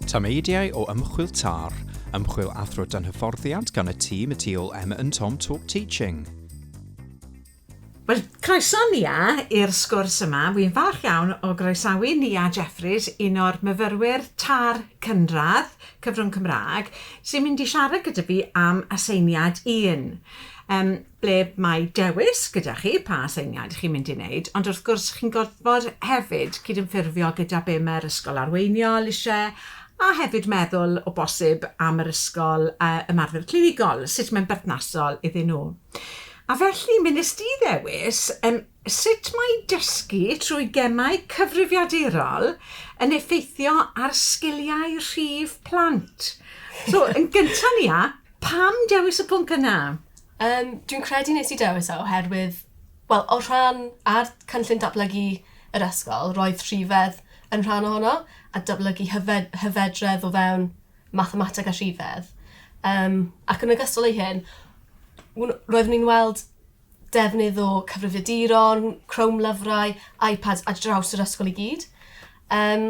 Tameidiau o ymchwil TAR, ymchwil athro dan hyfforddiant gan y tîm y tu ôl Emma and Tom Talk Teaching. Wel, croeso Nia i'r sgwrs yma. Wi'n falch iawn o groesawu Nia Jeffries, un o'r myfyrwyr TAR cynradd, cyfrwng Cymraeg, sy'n mynd i siarad gyda fi am aseiniad un. Yym, ble mae dewis gyda chi pa aseiniad chi'n mynd i wneud, ond wrth gwrs chi'n gorfod hefyd cydymffurfio gyda be mae'r ysgol arweiniol isie, a hefyd meddwl o bosib am yr ysgol yy ymarfer clinigol, sut mae'n berthnasol iddyn nhw. A felly mi wnest ti ddewis yym sut mae dysgu trwy gemau cyfrifiadurol yn effeithio ar sgiliau rhif plant. So yn gynta' Nia, Pam dewis y pwnc yna? Yym, dwi'n credu nes i dewis e oherwydd, wel, o rhan ar cynllun datblygu yr ysgol, roedd rhifedd yn rhan ohono, a datblygu hyfed, hyfedredd o fewn mathemateg a rhifedd. Um, ac yn ogystal ei hyn, roeddwn ni'n weld defnydd o cyfrifiaduron, Chrome lyfrau, iPads a draws yr ysgol i gyd. Um,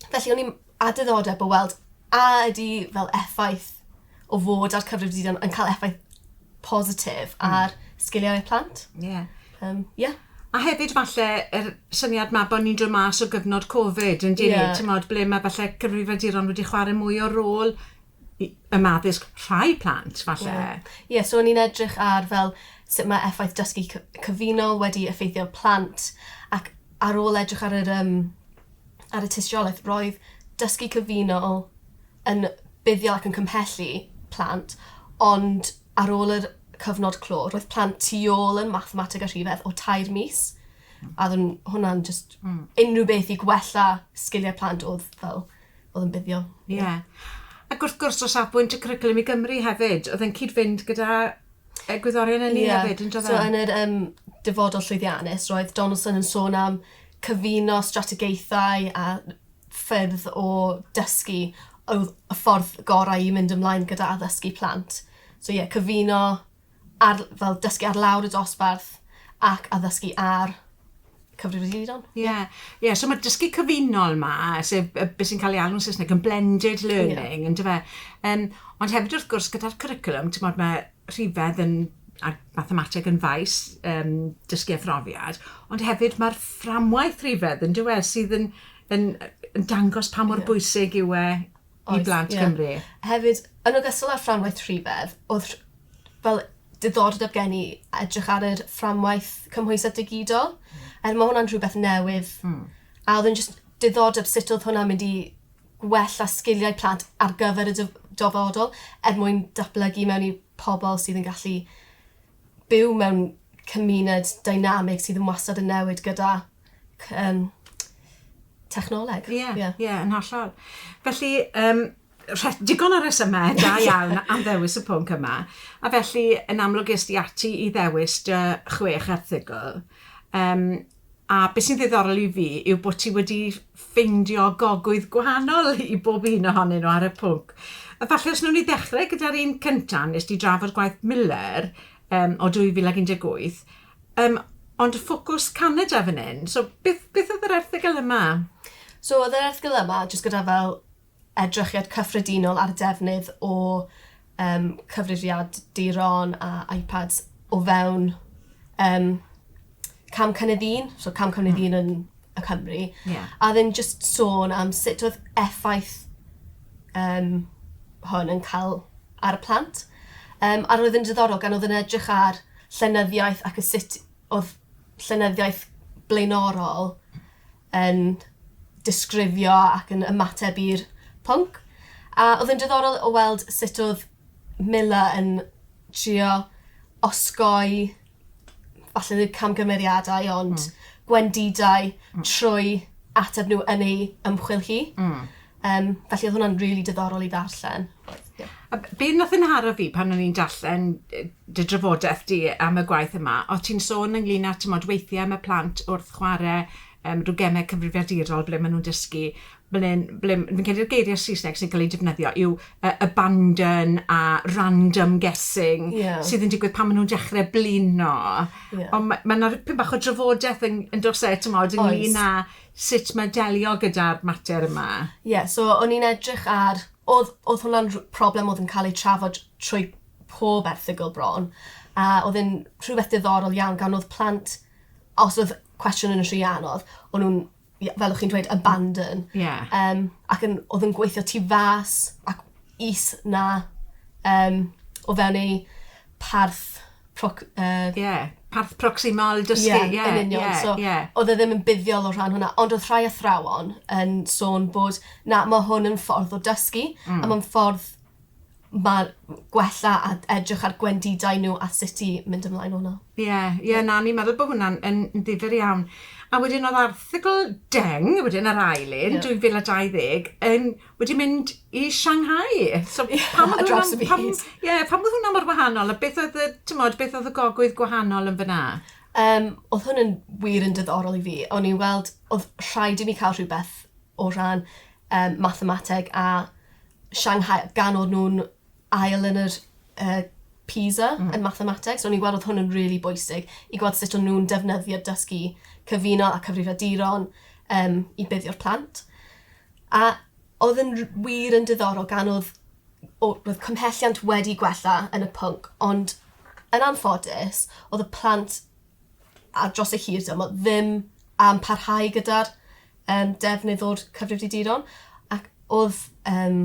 felly, o'n i'n a diddordeb o weld a ydi fel effaith o fod ar cyfrif didan yn cael effaith positif hmm. ar sgiliau y plant. Ie. Yeah. Um, yeah. A hefyd falle yr syniad ma bod ni'n dod mas o gyfnod Covid yn dyn yeah. ni, ble mae falle cyfrifiaduron wedi chwarae mwy o rôl ym addysg rhai plant, falle. Ie, ie, so o'n i'n edrych ar fel sut mae effaith dysgu cyfunol wedi effeithio plant, ac ar ôl edrych ar yr, um, ar y tystiolaeth, roedd dysgu cyfunol yn buddiol ac yn cymhellu plant, ond ar ôl yr cyfnod clo, roedd plant tu ôl yn mathemateg a rhifedd o tair mis, a oedd hwnna'n just mm. unrhyw beth i gwella sgiliau plant oedd fel oedd yn buddiol. Ie. Yeah. Ac wrth gwrs, o safbwynt y cwricwlwm i Gymru hefyd, oedd yn cyd-fynd gyda y gwyddorion yn yeah. hefyd, yn dod So, e? yn yr um, dyfodol llwyddiannus, roedd Donaldson yn sôn am cyfuno strategaethau a ffyrdd o dysgu oedd y ffordd gorau i mynd ymlaen gyda addysgu plant. So ie, yeah, cyfuno ar, fel dysgu ar lawr y dosbarth ac addysgu ar cyfrifiaduron. Ie, yeah. yeah. so mae dysgu cyfunol ma, sef beth sy'n cael ei alw'n Saesneg yn blended learning, yeah. yn dyfa. Um, ond hefyd wrth gwrs gyda'r curriculum, ti'n modd mae rhifedd yn a mathemateg yn faes um, dysgu a phrofiad, ond hefyd mae'r fframwaith rhifedd yn dywed sydd yn, yn, yn dangos pa mor yeah. bwysig yw e i blant Cymru. Hefyd, yn ogystal â'r fframwaith rhifedd, odd rh- fel diddordeb gen i edrych ar yr fframwaith cymhwysedd digidol. Hmm. Er ma' hwnna'n rhywbeth newydd. Hmm. A odd e'n jyst diddordeb sut odd hwnna'n mynd i gwella sgiliau plant ar gyfer y dyf- dyfodol er mwyn datblygu mewn i pobol sydd yn gallu byw mewn cymuned dynamig sydd yn wastad yn newid gyda c- yym, technoleg. Ie, ie, ie, yn hollol. Felly, um, digon o resymau da iawn am ddewis y pwnc yma, a felly yn amlwg ysdi ati i ddewis dy chwech erthigol. Um, a beth sy'n ddiddorol i fi yw bod ti wedi ffeindio gogwydd gwahanol i bob un ohonyn nhw ar y pwnc. Efallai os nhw'n i ddechrau gyda'r un cyntaf, nes di drafod gwaith Miller um, o 2018, Yym, ond ffocws Canada fan hyn. So, beth, beth oedd yr erthygl yma? So, oedd yr erthygl yma jyst gyda fel edrychiad cyffredinol ar defnydd o um, cyfrifiad diron a iPads o fewn um, cam cynnydd un, so cam cynnydd hmm. un yn y Cymru, yeah. a ddim jyst sôn am sut oedd effaith um, hwn yn cael ar y plant. Um, a roedd yn diddorol gan oedd yn edrych ar llenyddiaeth ac y sut odd llenyddiaeth blaenorol yn disgrifio ac yn ymateb i'r pwnc. A odd yn diddorol o weld sut odd Mila yn trio osgoi falle ddim camgymeriadau ond... Hmm. ...gwendidau... Hmm. ...trwy ateb n'w yn ei ymchwil hi. Hmm. Um, felly oedd hwnna'n really diddorol i ddarllen. Yeah. A be nath yn haro fi pan o'n i'n darllen dy drafodaeth di am y gwaith yma, o ti'n sôn ynglyn â tymod weithiau mae plant wrth chwarae um, rhyw gemau cyfrifiadurol ble maen nhw'n dysgu ble, ble, fi'n credu'r geiriau Saesneg sy'n cael ei defnyddio yw uh, abandon a random guessing yeah. sydd yn digwydd pan maen nhw'n dechrau blino. Yeah. Ond mae yna ma pyn bach o drafodaeth yn, yn dos e, ti'n modd, ynglyn â sut mae delio gyda'r mater yma? Ie, so o'n i'n edrych ar... Oedd, oedd hwnna'n rh- problem oedd yn cael ei trafod trwy pob erthygl bron, a oedd e'n rhywbeth diddorol iawn gan oedd plant, os oedd cwestiwn yn rhy anodd, o'n nhw'n, ie, fel o'ch chi'n dweud, abandon. Ie. Yym, ac yn, oedd yn gweithio tu fas ac is 'na, yym, o fewn eu parth proc, uh, yeah. parth proximal dysgu. Ie, yeah, yn union. Yeah, so, yeah. oedd e ddim yn buddiol o rhan hwnna, ond oedd rhai athrawon yn sôn bod, na, mae hwn yn ffordd o dysgu, mm. a mae'n ffordd mae gwella a edrych ar gwendidau nhw a sut i mynd ymlaen o'na. Ie, yeah, ie, yeah, na, ni'n meddwl bod hwnna'n yn, yn ddifur iawn. A wedyn oedd arthigl deng, wedyn yr ail un, yeah. 2020, yn wedi mynd i Shanghai. So, pam oedd hwnna... Ie, pam, yeah, pam oedd hwnna mor wahanol? A beth oedd y, tymod, beth oedd y gogwydd gwahanol yn fyna? Um, oedd hwn yn wir yn dyddorol i fi. O'n i'n weld, oedd rhaid i mi cael rhywbeth o ran um, mathemateg a Shanghai, gan oedd nhw'n ail yn yr uh, PISA mm. yn mathemateg. So o'n i'n gweld oedd hwn yn rili really bwysig i gweld sut o'n nhw'n defnyddio dysgu cyfuno a cyfrifiaduron um, i buddio'r plant. A oedd yn r- wir yn diddorol gan oedd o- roedd cymhelliant wedi gwella yn y pwnc ond yn anffodus oedd y plant ar dros y hir dymor ddim am parhau gyda'r um, defnydd o'r cyfrifiaduron ac oedd um,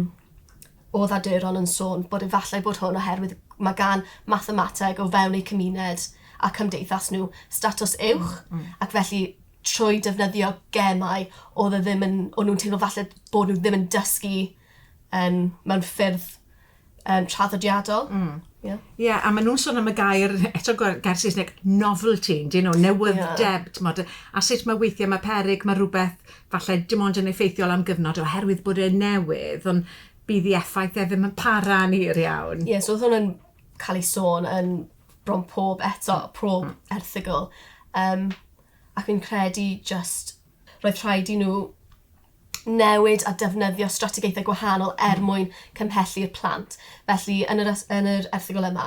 oedd aduron yn sôn bod efallai bod hwn oherwydd mae gan mathemateg o fewn eu cymuned a cymdeithas nhw statws uwch mm, mm. ac felly trwy defnyddio gemau odd e ddim yn o'n nw'n teimlo falle bod n'w ddim yn dysgu yn mewn ffyrdd yym traddodiadol. Hmm. Ie. Ie a ma' nw'n sôn am y gair eto gwe- gair Saesneg novelty yndyn nhw newydd'deb t'mod yy a sut ma' weithie ma' peryg ma' rwbeth falle dim ond yn effeithiol am gyfnod oherwydd bod e newydd on' bydd 'i effaith e ddim yn para'n hir iawn. Ie so odd hwn yn ca'l ei sôn yn bron pob eto pob erthygl yym ac fi'n credu jyst roedd rhaid i nhw newid a defnyddio strategaethau gwahanol er hmm. mwyn cymhelli'r plant. Felly, yn yr, yn yr erthigol yma,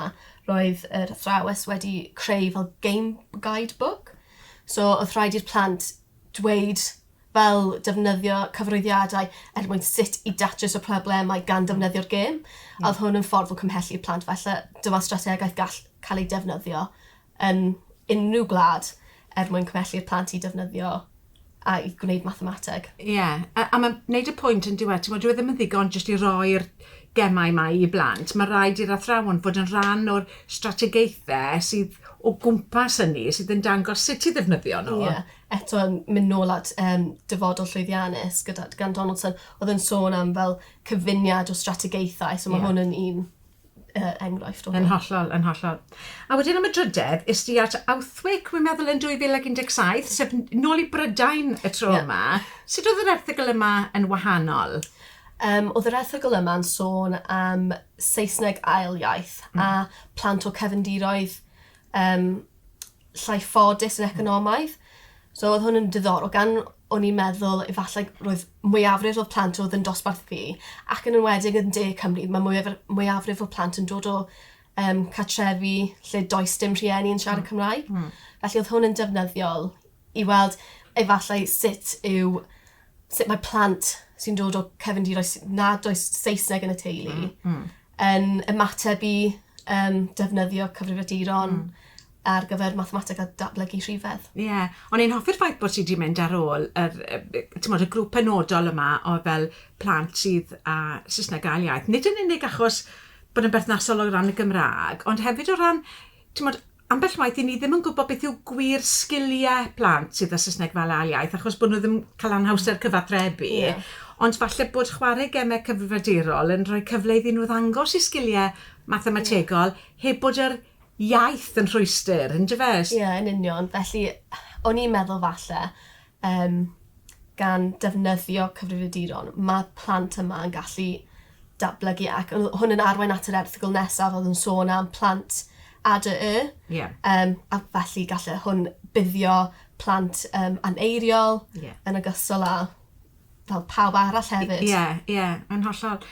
roedd yr athrawes wedi creu fel game guidebook. So, oedd rhaid i'r plant dweud fel defnyddio cyfroeddiadau er mwyn sut i datrys y problemau gan hmm. defnyddio'r gêm. Mm. A oedd hwn yn ffordd o cymhelli'r plant. Felly, dyma strategaeth gall cael ei defnyddio yn unrhyw gwlad er mwyn cymhelli'r plant i defnyddio a i gwneud mathemateg. Ie, a, a mae'n gwneud y pwynt yn diwedd, ti'n gwybod, dwi e ddim yn ddigon jyst i roi'r gemau yma i blant. Mae rhaid i'r athrawon fod yn rhan o'r strategaethau sydd o gwmpas hynny, sydd yn dangos sut i ddefnyddio nhw. Ie, eto yn mynd nôl at um, dyfodol llwyddiannus gyda, gan Donaldson, oedd yn sôn am fel cyfuniad o strategaethau, so mae yeah. hwn yn un uh, enghraifft o Yn hollol, yn hollol. A wedyn am y drydedd, is di at Outhwick, rwy'n meddwl yn 2017, sef nôl i Brydain y tro yeah. yma. Sut oedd yr erthigol yma yn wahanol? Um, oedd yr erthigol yma'n sôn am Saesneg ail iaith mm. a plant o cefndiroedd um, llai ffodus yn economaidd. So oedd hwn yn diddorol gan o'n i'n meddwl efallai roedd mwyafrif o'r plant oedd yn dosbarth fi ac yn enwedig yn De Cymru mae mwyafr- mwyafrif o plant yn dod o um, catrefi lle does dim rhieni yn siarad mm. Cymraeg. Mm. Felly oedd hwn yn defnyddiol i weld efallai sut yw sut mae plant sy'n dod o cefndiroedd nad does Saesneg yn y teulu mm, mm. yn ymateb i um, defnyddio cyfrifiaduron mm. ar gyfer mathemateg a datblygu rhifedd. Ie, yeah. ond i'n hoffi'r ffaith bod ti wedi mynd ar ôl yr, y grŵp penodol yma o fel plant sydd â Saesneg gael iaith. Nid yn unig achos bod yn berthnasol o ran y Gymraeg, ond hefyd o ran, ti'n modd, ambell waith i ni ddim yn gwybod beth yw gwir sgiliau plant sydd â Saesneg fel ail iaith, achos bod nhw ddim cael anhawster cyfathrebu. Yeah. Ond falle bod chwarae gemau cyfrifiadurol yn rhoi cyfle iddyn nhw ddangos i sgiliau mathemategol yeah. heb bod yr iaith yn rhwystr, yn dyfe? Ie, yn union. Felly, o'n i'n meddwl falle, um, gan defnyddio cyfrifiaduron, mae plant yma yn gallu datblygu ac hwn yn arwain at yr erthigol nesaf oedd yn sôn am plant ADY. Yeah. Um, a felly gallu hwn buddio plant um, aneiriol yeah. yn ogystal â fel pawb arall hefyd. Ie, yeah, ie, yeah, yn hollol.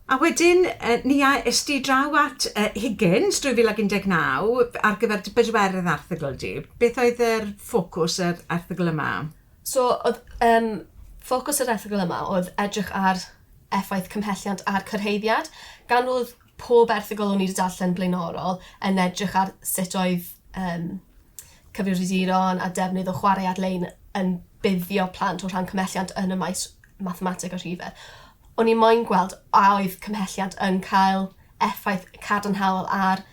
A wedyn, ni a es di draw at Higgins 2019 ar gyfer dy bedwerydd erthygl di. Beth oedd yr ffocws yr erthygl yma? So, oedd yym ffocws yr erthygl yma oedd edrych ar effaith cymhelliant a'r cyrhaeddiad. Gan fod pob erthygl o'n i 'di darllen blaenorol yn edrych ar sut oedd yym cyfrifiaduron a defnydd o chwarae ar-lein yn buddio plant o rhan cymhelliant yn y maes mathemateg a rhife. O'n i moyn gweld a oedd cymhelliant yn cael effaith cadarnhaol ar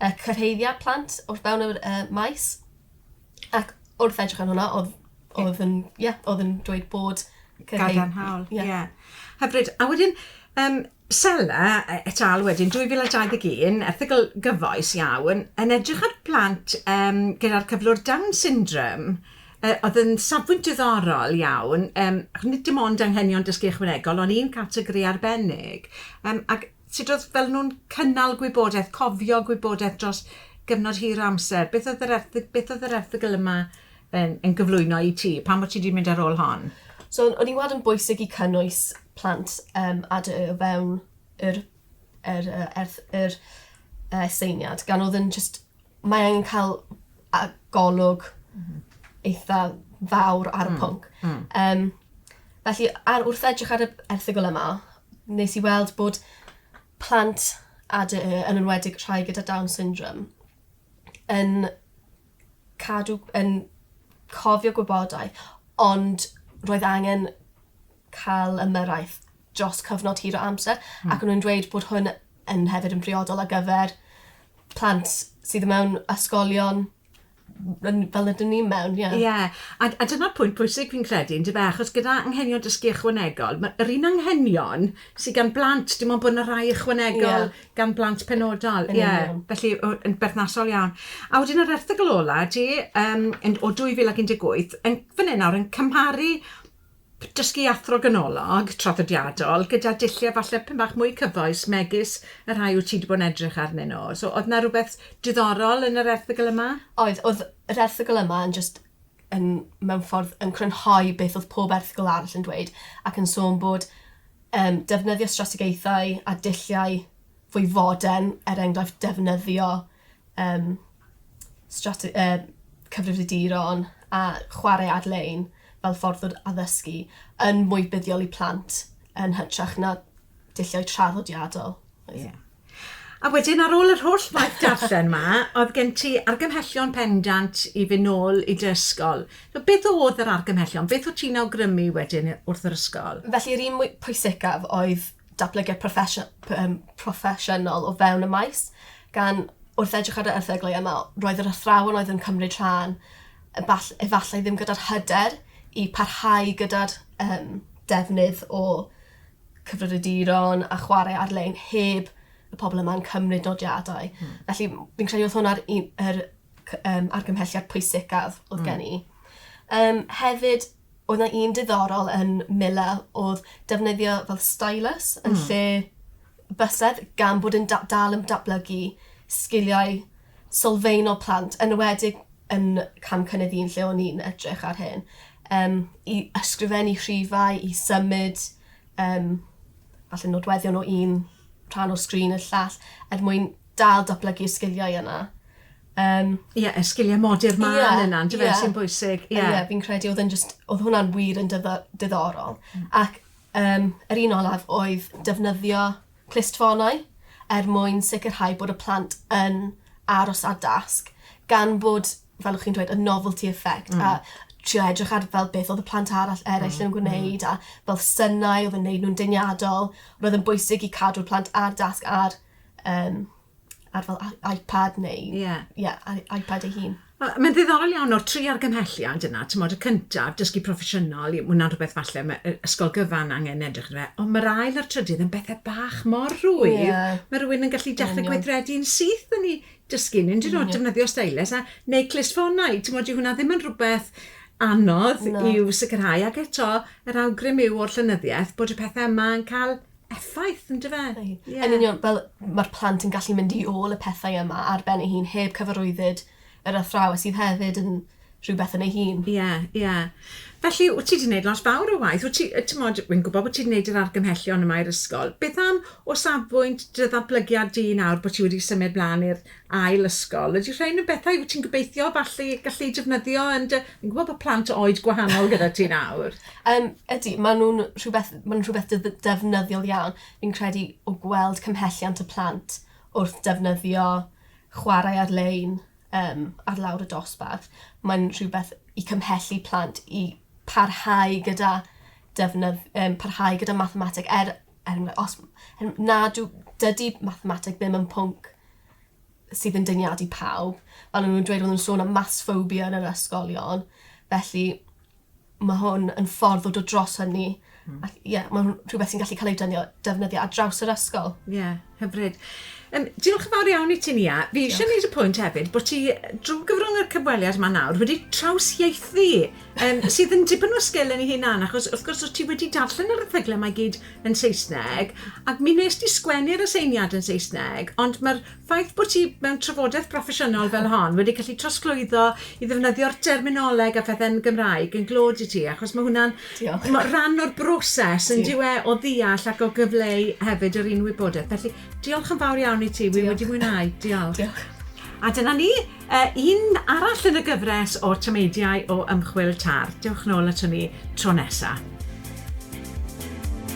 y cyrhaeddiad plant wrth fewn yr uh, maes. Ac wrth edrych ar hwnna, oedd, oedd yn, ie, yeah, oedd yn dweud bod cyrhaedd... Gadarnhaol, ie. Yeah. Yeah. Hyfryd. A wedyn, um, Sela e, et al wedyn, 2021, erthigol gyfoes iawn, yn edrych ar plant um, gyda'r cyflwr Down syndrome Yy oedd yn safbwynt diddorol iawn yym ac nid dim ond anghenion dysgu ychwanegol ond un categori arbennig yym ac sut oedd fel nhw'n cynnal gwybodaeth, cofio gwybodaeth dros gyfnod hir o amser. Beth oedd yr erthy- beth oedd yr erthygl yma yn yn gyflwyno i ti? Pam o't ti 'di mynd ar ôl hon? So o'n i'n weld yn bwysig i cynnwys plant yym a dy y o fewn yr yr yy erth- yr yy aseiniad gan o'dd yn jyst mae angen ca'l a- yy golwg... M-hm. ...eitha fawr ar y pwnc. Hmm hmm. Yym felly ar wrth edrych ar y erthygl yma nes i weld bod plant a dy y yn enwedig rhai gyda down syndrom yn cadw yn cofio gwybodaeth ond roedd angen cael ymyrraeth dros cyfnod hir o amser ac o'n nhw'n dweud bod hwn yn hefyd yn briodol ar gyfer plant sydd mewn ysgolion yn, fel ydyn ni mewn, ie. Ie, a, a dyna'r pwynt pwysig fi'n credu, yn dyfe, achos gyda anghenion dysgu ychwanegol, mae yr un anghenion sydd gan blant, dim ond bod yna rai ychwanegol yeah. gan blant penodol. Ie, yeah. felly yn berthnasol iawn. A wedyn yr erthygl ola, ti, um, o 2018, yn, fan hyn nawr, yn cymharu Dysgu athro ganolog, traddodiadol, gyda dulliau falle pyn bach mwy cyfoes megis y rhai wyt ti 'di bod yn edrych arnyn nhw. So, oedd 'na rywbeth diddorol yn yr erthygl yma? Oedd, oedd yr erthygl yma yn jyst yn, mewn ffordd, yn crynhoi beth oedd pob erthygl arall yn dweud, ac yn sôn bod um, defnyddio strategaethau a dulliau fwy fodern, er enghraifft defnyddio yym strate- yy cyfrifiaduron a chware ar-lein fel ffordd o addysgu yn mwy buddiol i plant yn hytrach na dulliau traddodiadol. Oedd. Ie. A wedyn ar ôl yr holl waith darllen 'ma, oedd gen ti argymhellion pendant i fyn' nôl i dy ysgol. So beth o'dd yr argymhellion? Beth o' ti'n awgrymu wedyn i wrth yr ysgol? Felly yr un mwy pwysicaf oedd datblygiad proffesiynol o fewn y maes, gan wrth edrych ar yr erthyglau yma, roedd yr athrawon oedd yn cymryd rhan efallai ddim gyda'r hyder i parhau gyda'r um, defnydd o cyfrifiaduron a chwarae ar-lein heb y pobl yma'n cymryd nodiadau. Mm. Felly, fi'n credu oedd hwnna'r er, um, argymhelliad pwysicaf oedd mm. gen i. Um, hefyd, oedd 'na un diddorol yn Mila odd defnyddio fel stylus yn lle bysedd gan bod e'n da- dal yn datblygu sgiliau sylfaenol plant enwedig yn cam cynnydd un lle o'n i'n edrych ar hyn yym i ysgrifennu rhifau i symud yym falle nodweddion o un rhan o sgrin i'r llall er mwyn dal datblygu'r sgiliau yna. Yym. Ie, y sgiliau modur mân yeah, yna, yndyfe, yeah. sy'n bwysig. Ie, yeah. yeah, fi'n credu oedd yn just, oedd hwnna'n wir yn diddorol. Mm. Ac um, yr un olaf oedd defnyddio clustfonau er mwyn sicrhau bod y plant yn aros a dasg, gan bod, fel ych chi'n dweud, y novelty effect, mm. a trio edrych ar fel beth oedd y plant arall eraill mm. yn gwneud, mm. a fel synnau oedd yn gwneud nhw'n dyniadol. Roedd yn bwysig i cadw'r plant ar dasg ar um, ar fel I- iPad neu... Ie. ...ie, I- iPad ei hun. Wel, mae'n ddiddorol iawn o'r tri argymhelliad yna, timod, y cyntaf, dysgu proffesiynol, mae hwnna'n rhywbeth falle mae yy ysgol gyfan angen edrych arno fe, ond mae'r ail a'r trydydd yn bethau bach mor rwydd... Ie. ...mae rhywun yn gallu dechrau... yn union. ...gweithredu'n syth yn ei dysgu, nid yn oed defnyddio stylus a... neu clustffonau, timod, dyw hwnna ddim yn rhywbeth anodd... Na. ...i'w sicrhau ac eto, yr awgrym yw o'r llenyddiaeth bod y pethau yma yn cael... effaith, yn dyfe? Yeah. Yn union, fel mae'r plant yn gallu mynd i ôl y pethau yma ar ben ei hun, heb cyfarwyddyd yr athraw, a sydd hefyd yn rhywbeth yn ei hun. Ie, yeah, ie. Yeah. Felly, wyt ti wedi gwneud lot fawr o waith. Wyt ti, ti'n modd, wy'n gwybod bod ti wedi gwneud yr argymhellion yma i'r ysgol. Beth am o safbwynt dy ddatblygiad di nawr bod ti wedi symud blaen i'r ail ysgol. Ydy rhain yn bethau wyt ti'n gobeithio falle gallu eu defnyddio yn dy... Fi'n gwybod bod plant o oed gwahanol gyda ti nawr. Um, ydy, maen nhw'n rhywbeth, maen nhw'n rhywbeth def- defnyddiol iawn. Fi'n credu o gweld cymhelliant y plant wrth defnyddio chwarae ar-lein um, ar lawr y dosbarth, mae'n rhywbeth i cymhellu plant i parhau gyda defnydd, um, parhau gyda mathemateg, er er enghraifft, os, er, nad yw, dydy mathemateg ddim yn pwnc sydd yn dyniadu pawb. Fel nhw'n dweud, oedden nhw'n sôn am maths phobia yn yr ysgolion. Felly, mae hwn yn ffordd o dod dros hynny. Mm. Ac ie, yeah, mae hwn rhywbeth sy'n gallu cael ei dynio, defnyddio ar draws yr ysgol. Ie. Yeah. Hyfryd. Um, diolch yn fawr iawn i ti, Nia. Fi eisiau gwneud y pwynt hefyd bod ti, drwy gyfrwng y cyfweliad yma nawr, wedi trawsieithu, um, sydd yn dipyn o sgil yn ei hunan, achos wrth gwrs os ti wedi darllen yr erthyglau mae gyd yn Saesneg, ac mi nes ti sgwennu'r aseiniad yn Saesneg, ond mae'r ffaith bod ti mewn trafodaeth broffesiynol fel hon wedi gallu trosglwyddo i ddefnyddio'r terminoleg a phethau'n Gymraeg yn glod i ti, achos mae hwnna'n Diolch. Mae rhan o'r broses yn diwe o ddeall ac o gyfleu hefyd yr un wybodaeth. Felly, diolch yn fawr iawn i ti. Wi wedi mwynhau. Diolch. Diolch. A dyna ni, uh, un arall yn y gyfres o tameidiau o ymchwil TAR. Diolch nôl at hynny tro nesaf.